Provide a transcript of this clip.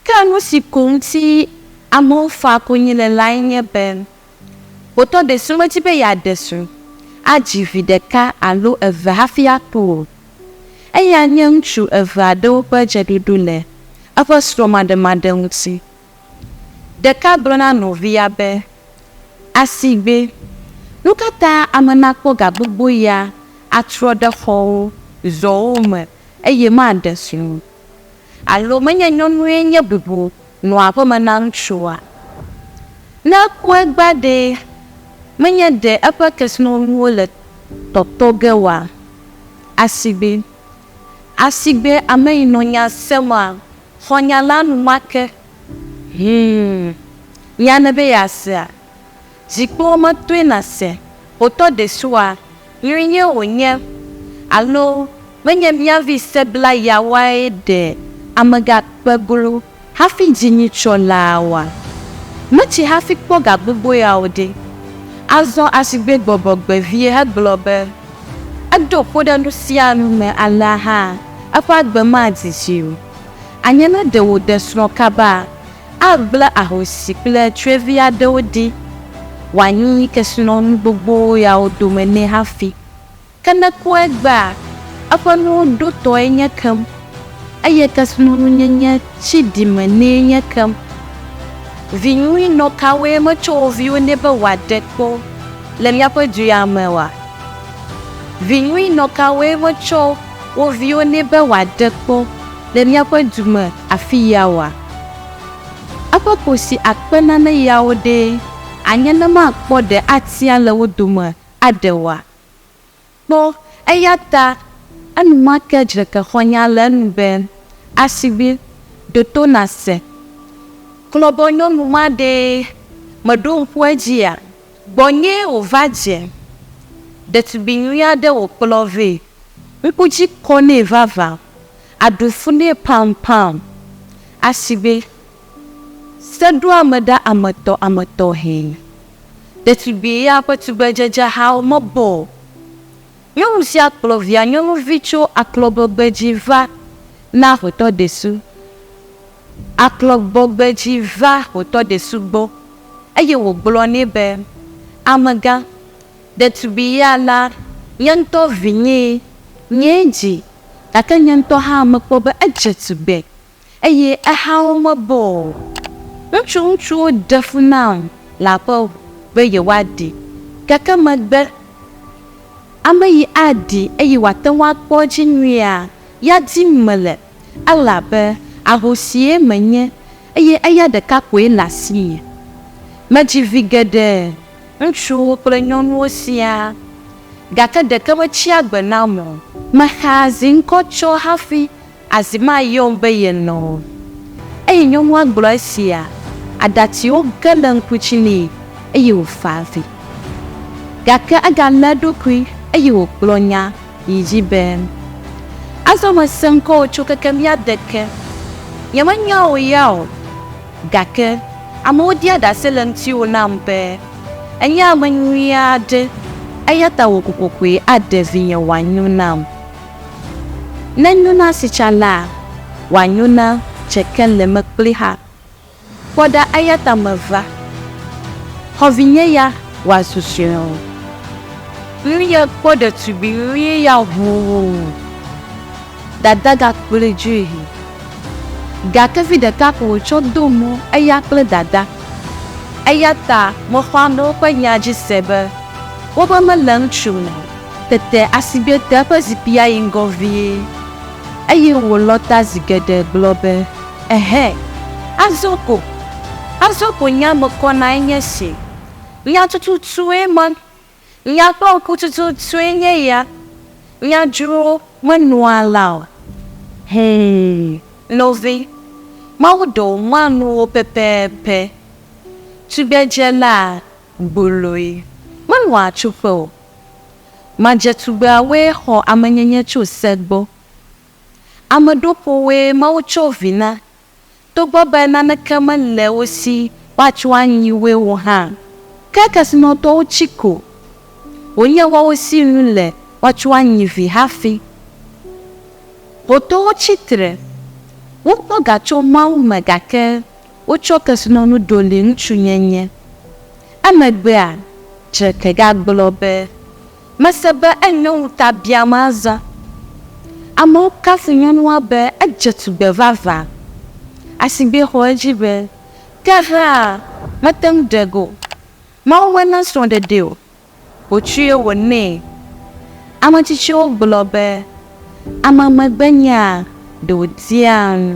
Ke nu si ko ŋuti amewo faa konyi le lae nye be xotɔ ɖe si medi be yeaɖe srɔ̃, adzi vi ɖeka alo eve hafi aku o. Eya nye ŋutsu eve aɖewo ƒe dzeɖoɖo le eƒe srɔ̃maɖemaɖe ŋuti Ɖeka gblɔ na nɔvia be, Asigbe, nu ka ta ame nakpɔ ga gbogbo ya atrɔ ɖe xɔwo, zɔwo me eye maɖe srɔ̃ o? Alo menye nyɔnue nye bubu nɔa aƒeme na ŋutsua? Ne eku egbea ɖe, menye ɖe eƒe kesinɔnuwo le tɔtɔ ge oa? Asigbe, asigbe ameyinɔnya sẽma! Xɔ nya la enumake. Hum! Nya ne be yeasea? Zikpuiwo metoe nàse otɔ ɖesua nyuie wònye alo menye mía vi sebla yawoae ɖe amegakpe glo hafi dzi nyitsɔ laa oa? Metsi hafi kpɔ ga gbogbo yawo ɖe. Azɔ asigbegbɔbɔgbe vie hegblɔ be. Edo kpo ɖe nu sia nu me alea hã, eƒe agbe madi dzi o. Anye ne ɖe wòde srɔ̃ kaba, agblẽ ahosi kple tsyɔ̃evi aɖewo ɖi wòanyi kesinɔnu gbogbo yawo dome nɛ hafi. Ke ne kpɔ egbea, eƒe nuwo ɖotɔe nye kem. Eye kesinɔnunyenye tsi ɖime nɛ nye kem. Vi nyui nɔ kawoe metsɔ wo viwo nɛ be wòaɖe kpɔ le míaƒe du ya me oa? Vi nyui nɔ kawoe metsɔ wo viwo nɛ be wòaɖe kpɔ le míaƒe du me afiya oa? Eƒe kosi akpe nane yawo ɖee anye ne makpɔ ɖe atia le wo dome aɖe oa? Kpɔ, eya ta enumake dzreke xɔ nya le enu be, Asiʋui, ɖo to nàse! Klɔbɔnyɔnu ma ɖee mèɖo ŋku edzia? Gbɔnyee wòva dze. Ɖetugbi nyui aɖe wòkplɔ vɛ. Ŋku dzi kɔ nɛ vavã. Aɖu fu nɛ pampaŋ. Asiʋui. Seɖoameɖeametɔametɔe. Ɖetugbui ya ƒe tugbedzedzehawo mebɔ o. Nyɔnu sia kplɔ via nyɔnuvi tso aklɔgbɔgbe dzi va na aƒetɔ Desu. Aklɔgbɔgbe dzi va aƒetɔ Desu gbɔ eye wògblɔ nɛ be, Amegã, ɖetugbui ya la nye ŋutɔ vinyee. Nyee dzi, gake nye ŋutɔ hã mekpɔ be edze tugbe. eye eha wo mebɔ o. Wotsɔ ŋutsuwo de fu nam le aƒe ŋu be yewoaɖi, gake megbe. Ame yi aɖi eye wòate ŋu akpɔ edzi nyuia, ya dim mele, elabe ahosie menye, eye eya ɖeka koe le asinye. Medzi vi geɖe, ŋutsuwo kple nyɔnuwo siaa, gake ɖeke metsi agbe nam o. Mexaa zi ŋkɔ tsɔ hafi Azi ma yɔm be ye lɔ̃. Eye nyɔnua gblɔ esia, aɖatiwo ge le ŋku dzi nɛ, eye wòfa avi. Gake egalé eɖokui, eye wògblɔ nya yi dzi be, Azɔ mese ŋkɔwò tso keke mía de ke. Nyemenya wò ya o, gake amewo ɖia ɖase le ŋutiwò nam be, ènye ame nyui aɖe, eya ta wò kokokoe aɖe vinye wòanyo nam. Ne nyo na sitsa laa, wòanyo na dze keleme kpli hã. Kpɔ ɖa eya ta meva, xɔvinye ya wòazu sɔe o. Nu ya kpɔ ɖetugbui nyuie ya hoo, dada gakplɔe dzoe. Gake vi ɖeka ko wòtsɔ do mɔ eya kple dada. Eya ta mexɔa ame woƒe nya dzi se be wobe mele ŋutsu me o. Tete Asigbe te eƒe zikpuia yi ŋgɔ vie, eye wòlɔ ta zi geɖe gblɔ be, Ɛhɛ! Azɔ ko! Azɔ ko nye ame kɔnae nye si! Nya tututue ma! Nya kple ŋku tututue nye ya! Nya dzro menɔa la o. Hɛ̃, nɔvi, Mawu ɖe wò mɔanuwo pɛpɛpɛ. Tugbedzela gboloe menɔa tsuƒe o. Madzetugbeawoe xɔ amenyenye tso se gbɔ. Ame ɖoƒowoe Mawu tsɔ vi na, togbɔ be naneke mele wo si woatsɔ anyi woe o hã. Ke kesinɔtɔwo tsi ko, wònye woawo si nu le woatsɔ anyi vi hafi. Xotɔwo tsi tre, wokpɔ ga tso Mawu me gake. Wotsɔ kesinɔnu ɖo li ŋutsunyenye. Emegbea, Drake gagblɔ be, Mese be enyo ŋuta biam azɔ. Amewo kafu nyɔnua be edze tugbe vavã. Asigbe xɔ edzi be, Ke hã, mete ŋu ɖe ge o. Mawu mena srɔ̃ɖeɖee o. wòtsɔe wònɛ. Ame tsitsiwo gblɔ be, Ame megbenyaa ɖe wòdia nu.